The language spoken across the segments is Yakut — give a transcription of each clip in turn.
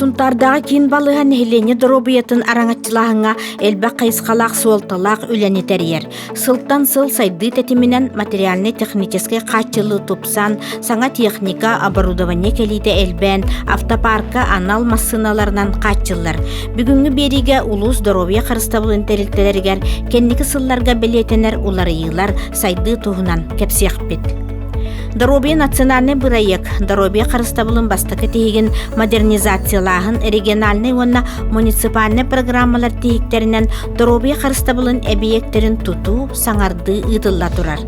Сунтардағы киин балыһа нэһилиэнньэ доруобуйатын араҥаччылааһыҥҥа элбэх хайысхалаах суолталаах үлэни тэрийэр. Сылтан сыл сайдыы тэтиминэн материальнай-техническэй хааччылыы тупсан, саҥа техника, оборудование кэлиитэ элбээн, автопаарка анал массыыналарынан хааччыллар. Бүгүҥҥү биэриигэ улуус доруобуйа харыстабылын тэрилтэлэригэр кэнники сылларга бэлиэтэнэр уларыйыылар сайдыы туһунан кэпсиэхпит. Доруобуйа национальный бырайыак доруобуйа харыстабылын бастакы тиһигин модернизациялааһын региональнай уонна муниципальнай программалар тиһиктэринэн доруобуйа харыстабылын эбийиэктэрин тутуу, саҥардыы ыытылла турар.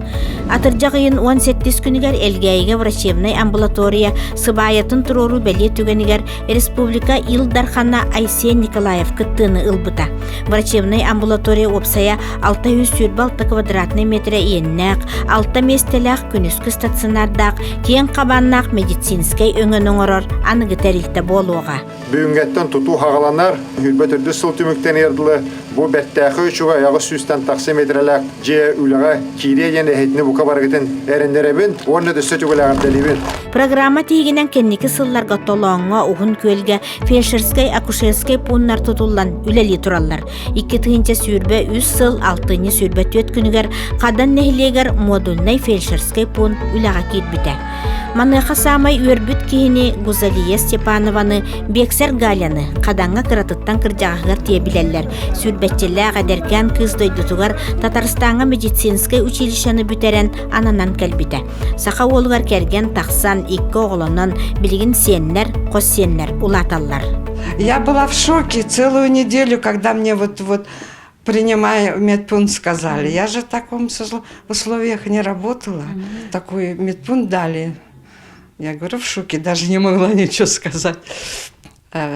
Атырдьах ыйын уон сэттис күнүгэр Элгээйигэ врачебнай амбулатория сыбаайатын туруоруу бэлиэ түгэнигэр республика Ил Дархана Айсен Николаев кыттыыны ылбыта. Врачебнай амбулатория уопсайа 603 балта квадратнай метрэ иэннээх, алта миэстэлээх күнүскү стационардаах киэҥ хабааннаах медицинскэй өҥөнү оҥорор аныгы тэрилтэ буолуоҕа. Бүгүҥҥэттэн тутуу хаҕаланар, сүүрбэ төрдүс сыл түмүктэниэр дылы бу бэртээхэй учугу айаҕыс сүүстэн тахса метрэлээх дьиэ үлэҕэ киириэ диэн эһэтини бука барыгытын эрэннэрэбин уонна өссө түгэлэҕэрдэлибин. Программа тиһигинэн кэнники сылларга Толооҥҥо, Уһун Күөлгэ фельдшерскай-акушерскай пууннар тутуллан үлэлии тураллар. Икки тыһыынча сүүрбэ үс сыл алтынньы сүүрбэ түөрт күнүгэр Хадан нэһилиэгэр модульнай фельдшерскэй пункт үлэҕэ киирбитэ. Маныаха саамай үөрбүт киһини Гузалия Степанованы, Бексер Галяны Хадаҥҥа кыратыттан кырдьаҕаһыгар тиэ билэллэр. Сүүрбэччэлээх эдэркээн кыыс дойдутугар Татарстаҥҥа медицинскэй училищены бүтэрэн ананан кэлбитэ. Саха уолугар кэргэн тахсан икки оҕолонон билигин сиэннэр, хос сиэннэр улааталлар. Я была в шоке целую неделю, когда мне вот вот принимая медпункт, сказали. Я же в таком условиях не работала. Такой медпункт дали. Я говорю, в шоке, даже не могла ничего сказать.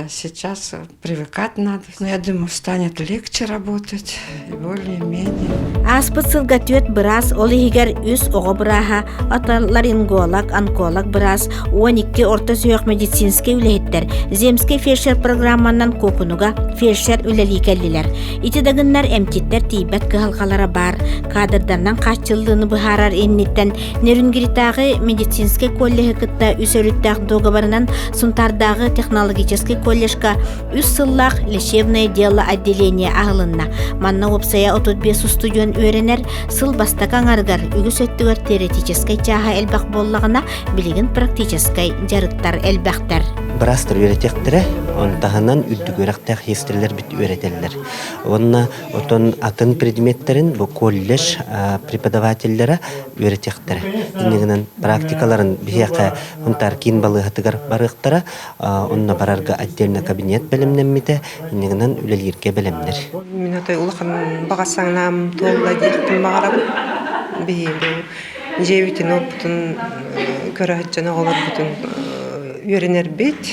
сейчас привыкать надо но я думаю станет легче работать более-менее ааспыт сылга түөрт быраас ол иһигэр үс оҕо бырааһа аталлар инголог онколог быраас он икки орто сүһүөх медицинскэй үлэһиттэр земский фельдшер программанан куопунуга фельдшер үлэлии кэллилэр ити дагыннар эмтиттэр тиийбэт кыһалҕалара баар каадырдарынан хааччыллыыны быһаарар инниттэн Нерюнгритааҕы медицинскэй коллеһы кытта үс өрүттээх договорынан Сунтаардааҕы технологическай коллежка үс сыллаах лечебное дело отделение аһылынна. Манна уопсайа 35 устудьуон үөрэнэр, сыл бастакы аҥарыгар үгүс өттүгэр теоретическай чааһа элбэх буоллаҕына, билигин практическай дьарыктар элбэхтэр. Бырастар үөрэтиэхтэрэ, он таһынан үрдүк үөрэхтээх хиэстэлэр бит үөрэтэллэр. Уонна Оттон атын предметтэрин бу колледж преподавателлэрэ үөрэтиэхтэрэ. Иннигинэн практикаларын биһиэхэ Хунтаар киин балыыһатыгар барыахтара. Онно барарга отдельно кабинет бэлэмнэммитэ. Иннигинэн үлэлииргэ бэлэмнэр. Мин аты улахан баҕа санаам туолла диэхпин баҕарабын. Биһи бу дьиэбитин оппутун көрө сылдьан оҕолорбутун үөрэнэрбит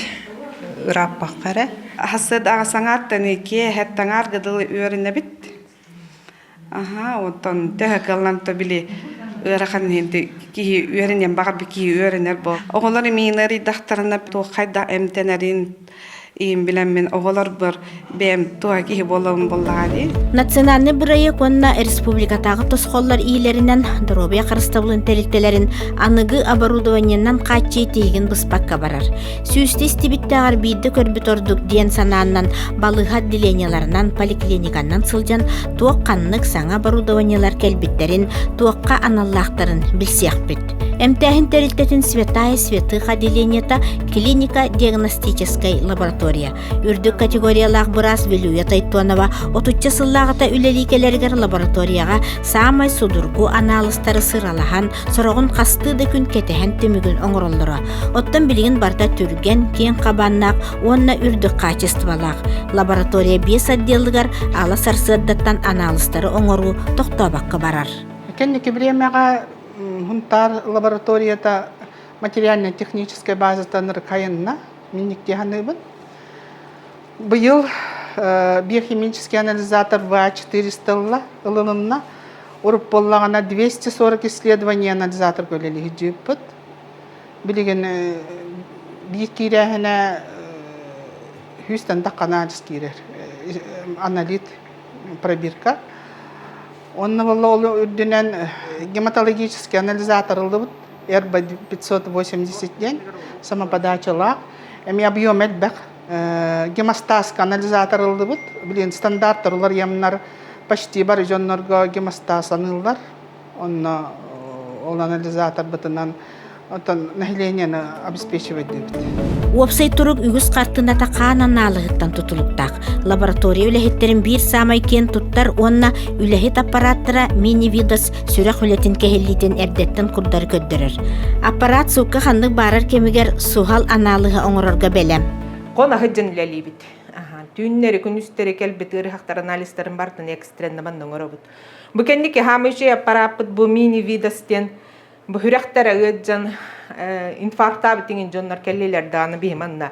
ырааппакка эрэ Хасыдаҕа саҥааттаны киэһэттаҥаар дылы үөрэнэбит. Аха, оттон төһө кыллан то били ыарахан киһи үөрэниэн баҕар киһи үөрэнэр бо. Оҕолор имиин арыйдахтарына туоххайда эмтэнэрин иин билэммин оҕолор быр бэм туга киһи болон боллаҕади. Национальный бырайык уонна республикатагы тосхоллор иилеринен доробия харыстабылын тэрилтелерин аныгы оборудованиеннан каччы тиһигин быспакка барар. Сүүстэ истибиттээҕэр биирдэ көрбүт ордук диэн санааннан балыыһат деленияларынан, поликлиниканнан сылдьан туох ханнык саҥа оборудованиелар кэлбиттэрин, туохха аналлаахтарын билсиэхпит. Эмтээһин тэрилтэтин Святая святых отделениета клиника-диагностическай лаборатория. Үрдүк категориялаах быраас Вилюя Тайтонова отучча сыллааҕыта үлэлии кэлэригэр лабораторияҕа саамай судургу анаалыстары сыралаһан, Сороҕун хастыы да күн кэтэһэн түмүгүн оҥороллоро. Оттон билигин барыта түргэн, киэҥ хабааннаах уонна үрдүк хаачыстыбалаах. Лаборатория биэс отделыгар ала сарсыардаттан анаалыстары оҥоруу тохтообокко барар. Кэнники времеҕэ Хунтаар лабораторията материально-техническай базатан рыкайынна минниктиһаныыбын. Быйыл биохимический анализатор ВА-400 ылынынна. Урут буоллаҕына 240 исследование анализаторга үлэлэһиитиппит. Билигин биир киирээһинэ үс тандах анализ киирэр аналит пробирка. Онно болла ол үрдүнэн гематологический анализатор ыллыбыт РБ 580 диэн самоподачалаах. Эми объем элбэх гемостазка анализаторыллыбыт билин стандарттар уларыйамнар почти бар дьоннорго гемостаз аныыллар онно ол анализаторбытынан оттон населениены обеспечивать диибит уопсай турук үгүс хартыыната хаан анаалыһыттан тутулуктаах лаборатория үлэһиттерин биир саамай киэн туттар уонна үлэһит аппараттара мини-видос сүрэх үлэтин кэһиллиитин эрдэттэн курдары көрдөрөр. Аппарат суукка ханнык баарар кэмигэр суһал анаалыһы оҥорорго бэлэм. Кон ахыддын үлэлиибит. Түүннэри, күнүстэри кэлбит ыарыһахтар анализтарын бартын экстреннабан оҥоробут. Бу кэнник хаамыычай аппарааппыт бу мини видостен бу хүрэхтэрэ ыаджан инфаркта битиҥин дьоннор кэллилэр дааны бихиманна.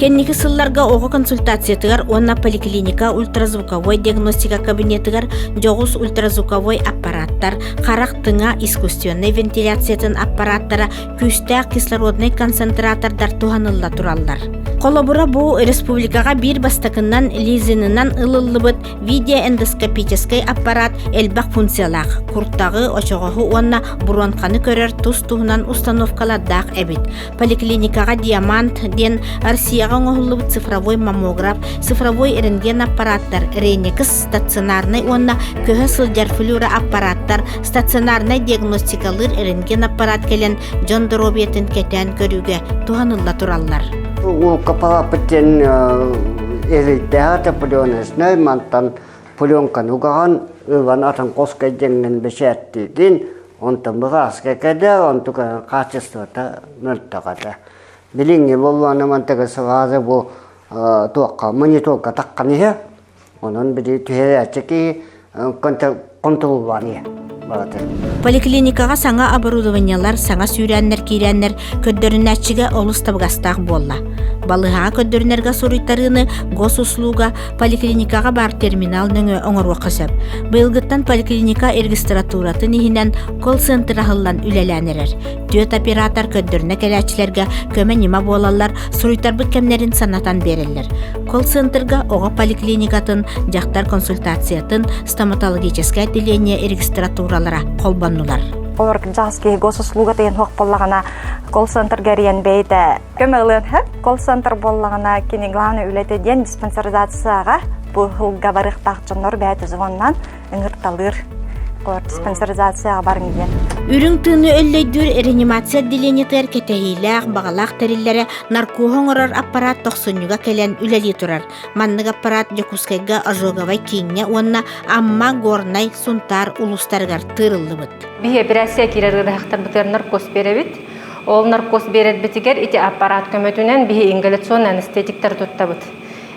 Кэнники сылларга оҕо консультациятыгар уонна поликлиника ультразвуковой диагностика кабинетыгар дьоҕус ультразвуковой аппарааттар, харах тыҥа искусственнай вентиляциятын аппарааттара, күүстээх кислороднай концентратордар туһанылла тураллар. Холобура бу республикаҕа биир бастакынан лизинынан ылыллыбыт видеоэндоскопическай аппарат элбэх функциялаах, куртаҕы, очоҕоһу уонна буруонканы көрөр тус туһунан установкалардаах эбит. Поликлиникаҕа диамант диэн Россияҕа оҥоһуллубут цифровой маммограф, цифровой рентген аппараттар, ренекс, стационарнай уонна көһө сылдьар флюороаппараттар, стационарнай диагностикалыыр рентген аппарат кэлэн дьон доруобуйатын кэтээн көрүүгэ туһанылла тураллар. Уука папыт диэн элейдээх опреленочнай мантан пленканы угаҕан ылан атын қоска деңген бэчээттиитин Онтон быҕааска кэдэ, онту хаачыстыбата мөлтөҕөтө. Билиҥҥи боллуона мантыгы сылааза бу туохха, мониторга таххан иһэ, онон били түһэрээччи киһи контроллаан иһэ барата. Поликлиникаҕа саҥа оборудованиелар, саҥа сүүрээннэр киирээннэр көрдөрүнээччигэ олус табыгастаах буолла. Балыһаҕа көрдөрүнэргэ суруйтарыыны госуслуга Поликлиникаҕа баар терминал нөҥүө оҥоруохха сөп. Быйылгыттан поликлиника регистратуратын иһинэн колл-центр аһыллан үлэлээн эрэр. Түөрт оператор көрдөрнө кэлээччилэргэ көмө ньыма буолаллар, суруйтарбыт кэмнэрин санатан биэрэллэр. Колл-центрга оҕо поликлиникатын, дьахтар консультациятын, стоматологическое отделение регистратуралара холбоннулар. Олор ким саас киһи госуслуга тыйын хуох боллагана колл-центрга эрийэн бэйите Көмөлөтһөр колл-центр буоллаҕына кини главный үлэтэ диэн диспансеризацияға бұл хылга барыхтах жоннор бәйті звоннан ыңырталыр диспансеризацияға барың диэн. Үрүҥ тыыны өллөйдүүр реанимация отделениетыгар кэтэһиилээх баҕалаах тэриллэрэ наркоһа оҥорор аппарат тохсунньуга кэлэн үлэлии турар. Маннык аппарат Дьокуускайга ожоговай кииҥҥэ уонна Амма, Горнай, Сунтаар улуустарыгар тыырыллыбыт. Биһи операция киирэр наркос беребит. Ол наркоз биэрэрбитигэр ити аппарат көмөтүнэн биһи ингаляционный анестетиктары туттабыт.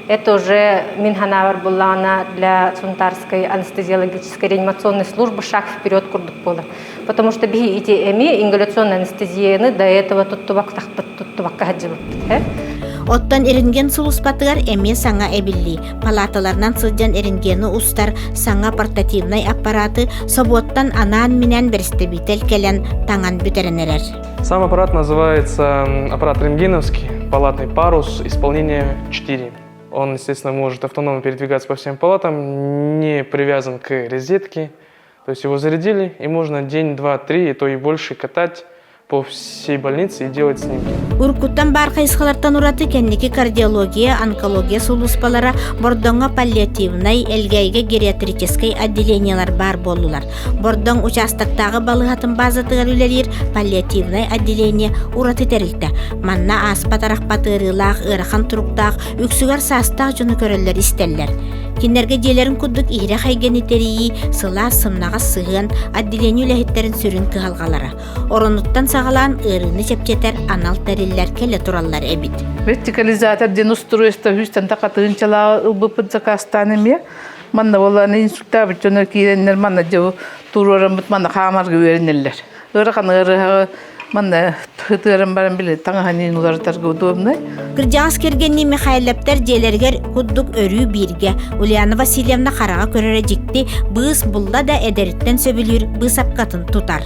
Это уже Минханавар буллаҕына для Сунтарской анестезиологической реанимационной службы шаг вперед курдук буолар. Потому что биһи ити эми ингаляционный анестезияны до этого туттубак тахпыт туттубакка хаджыбыт. Оттон иринген сулуспатыгар эмиэ саҥа эбиллии. Палаталарынан сылдьан эренгену устар саҥа портативнай аппараты собуоттан анаан-минээн бэрэстэбиитэл кэлэн таҥан бүтэрэн эрэр. Сам аппарат называется аппарат рентгеновский, палатный парус, исполнение 4. Он, естественно, может автономно передвигаться по всем палатам, не привязан к розетке. То есть его зарядили, и можно день, два, три, и то и больше катать по всей больнице и делать снимки. Уркуттан бар хайысхалартан ураты кэнники кардиология, онкология сулууспалара Бордоҥҥо паллиативнай, Элгээйгэ гериатрическай отделениялар бар боллулар. Бордоҥ участоктааҕы балыһатын базатыгар үлэлиир паллиативнай отделение ураты тэрилтэ. Манна ааспат арахпат ыарыылаах, ыарахан туруктаах, үксүгэр саастаах дьону көрөллөр-истэллэр. Кинилэргэ дьиэлэрин курдук иһирэх эйгэни тэрийии, сылаас сымнаҕас сыһыан, отделение үлэһиттэрин сүрүн кыһалҕалара. Оронуттан саҕалаан ыарыыны чэпчэтэр анал тэриллэр кэлэ тураллар эбит. Вертикализатор ден устройство хүстен такатыынчалаа ылбыппыт закастаан эмиэ манна болланы инструктабыт дьоно кииреннер манна дьо туруораммыт манна хаамарга үөрэнэллэр Ырахан ырыһаҕа манна тыырым баран били таҥаһанын уларытарга удобнай. Кырдьаҕас кэргэннии Михайлептер дьиэлэригэр курдук өрүү бииргэ Ульяна Васильевна хараҕа көрөрө дьикти быыс булла да эдэриттэн сөбүлүүр быысапкатын тутар.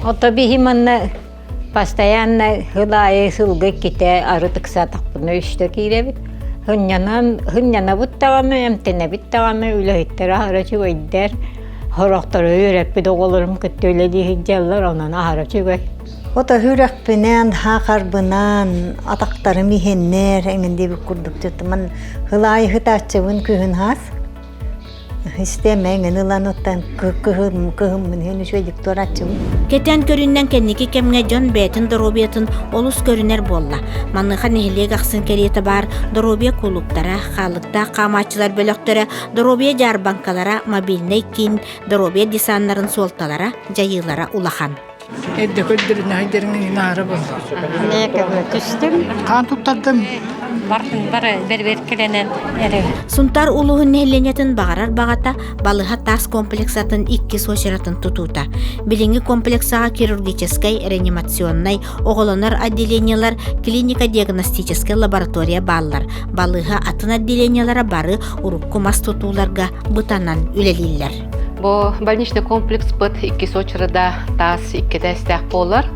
Ото биһи манна постоянно ыл аайы сылга иккитэ арытыксатахпына үстэ кииребит. Хынньанан, хынньанабыт даҕаны, эмтэнэбит даҕаны, үлэһиттэр аһара үчүгэйдэр. Сорохтору үөрэппит оҕолорум кытта үлэлии сылдьаллар, онон аһарача үгэй. Вот үһүрөхпүнэн, хаахарбынан, атахтарым иһиннэр, эҥин диэбит курдук ман хылаайы хытааччыбын күһүн хаас. Истиэм эҥин ылан оттон кыһыммын иһин үчүөдүк туорааччыбын. Кэтэн көрүннэн кэнники кэмҥэ дьон бэйэтин доруобуйатын олус көрүнэр буолла. Маныха нэһилиэк ахсын кэриэтэ баар доруобуйа кулууптара, хаалыктаах хаамааччылар бөлөхтөрө Доруобуйа дьаарбаҥкалара мобильнай киин доруобуйа десаннарын суолталара, дьайыылара улахан. Эрдэ көрдөрүн айдырыңын инаарабын. Нэкэбэ түстүм. Хаан туттардым. Барбын бары берберкеленен эре. Сунтар улууһун нэһилиэнньэтин баҕарар баҕата балыһа таас комплексатын иккис очератын тутуута. Билиҥҥи комплексаҕа хирургическай, реанимационнай, Оҕолонор отделениелар клиника диагностическай лаборатория бааллар. Балыыһа атын отделениелара бары урукку мас тутууларга бытанан үлэлииллэр. Бу больничный комплекспыт иккис очереда таас иккитэ эстээх буолар.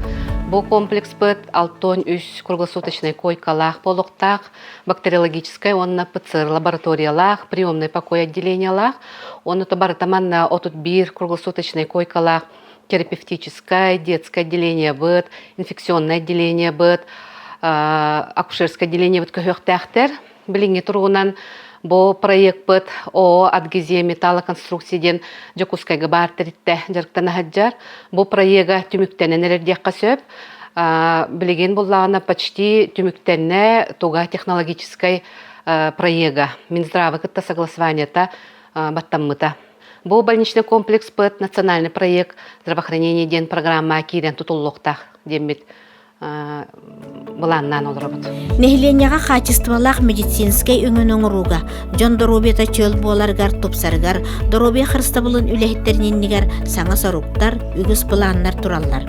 Бу комплекспыт алтон үс круглосуточной койкалаах болуктаах, бактериологическай уонна ПЦР лабораториялаах, приемный покой отделениялаах. Оны то барыта манна отут бір круглосуточной койкалаах терапевтическое, детское отделение быт, инфекционное отделение быт, акушерское отделение быт көһүөхтээхтэр. Билиҥҥи туругунан бу проекпыт ООО «Адгезия металлоконструкции» диэн Дьокуускайга баар тэрилтэ дьарыктан аһадьар. Бу проега түмүктэнэн эрэр диэххэ сөп. Билигин буллаҕына почти түмүктэннэ туга технологическай проега. Минздравы кытта согласованиета баттаммыта. Бу больничный комплекс ПЭТ национальный проект здравоохранение диэн программа киирэн тутуллуохтаах диэммит былааннаан олоробут. Нэһилиэнньэҕэ хаачыстыбалаах медицинскэй өҥүн оҥорууга, дьон доруобуйата чөл буоларыгар тупсарыгар, доруобуйа харыстабылын үлэһиттэрин иннигэр саҥа соруктар, үгүс былааннар тураллар.